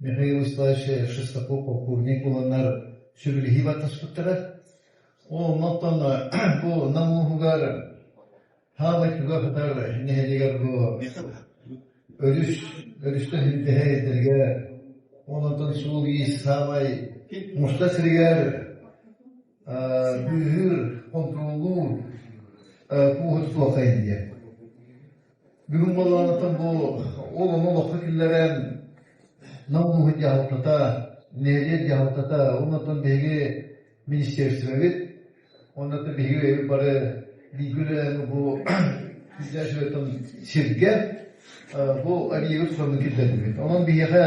Михаил Исаевич Шестаков кулунар сүбүлэһии бартаспыттара. Ол оттон бу Нам улууһугар хаалай күгэ хатар нэһилигэр бу өрүс өрүстэ хүндэһэ эрдэргэ онон суол ис саамай муста сиригэр Быыһыыр, хонтуруоллуур пуоһа суох эйиэ. Бүгүн балаанатан бу ол ону олохха киллэрэн намнуһу дьаһалтата, нэһилиэк дьаһалтата, оннан биһиги министерствобыт, оннан биһиги бары биигүрэн бу сиргэ бу объегы сонун киллэрдибит. Онон биһиэхэ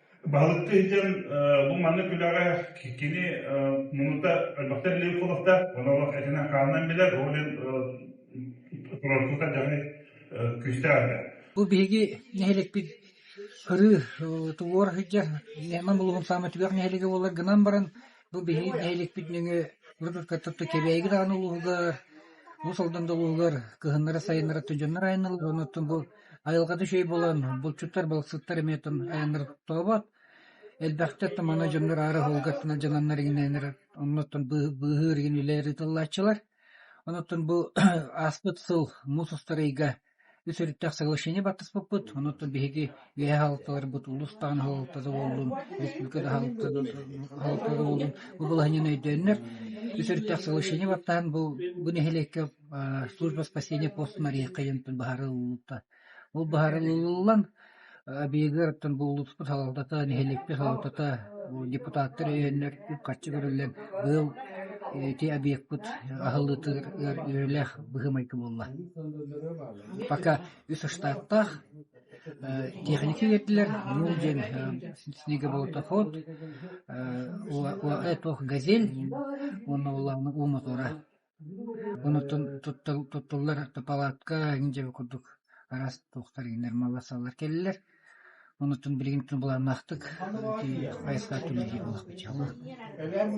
Балыкка сылдьан бу маннык үлэҕэ кини муннута элбэхтэр Левковтар, оны олох этинэн хаанынан билэр, ол иһин турорку хайдахы күүстээх этэ. Бу биһиги нэһиликпит кырыы тулуора сылдьар Лема Булугун саамай түгэх нэһилигэ буолар гынан баран Бу биһиги нэһилиэкпит нөҥүө Гродорка тобто Кэбээйигэ даҕаны улууһугар, Уус Алданда улууһугар кыһыннара-сайыннара сыдьоннор айанныыллар, оннуттан бу айылҕата үчүгэй буолан, булчуттар, балыксыттар эмиэ оттон айаннара тоҕобот. Элбэхтэ оттон манна дьоннор аара оһолго оттон дьананнар игинээннэр, оннуттан быыһыыр игин үлэлэр ыытыллааччылар. Оннуттан бу ааспыт сыл муус устар ыйга Үс өрүттээх соглашение баттаспыппыт, онуоттан биһиги үөһээ хаһылыкталарбыт улуус даҕаны хаһылыктата буоллун, республиката хаһылыктата буоллун бу балаһыанньаны өйдөөннөр, үс өрүттээх соглашение баттаһан бу бу нэһилиэккэ служба спасения постун арыйыахха диэн быһаарыллыбыта. Ол быһаарыллан Абигыттан буллубуппут салалтата, нэһилиэкпит салалтата, депутаттар өйөннөр үп-харчы көрүллэн, быйыл ити объекпыт аһыллыытыгар үөрүүлээх быһыы-майгы буолла. Пока үс штаттаах техники киирдилэр, ну диэн снегоботоход, ОЭ-Тох «Газель» уонна улаана уу мотора. Онтон туттуллар палатка иһин дьэ бу курдук араас туохтар нормаласалар кэллилэр. Онтон билигин булааннаахтык хайысха түмүгэ буолар бачча.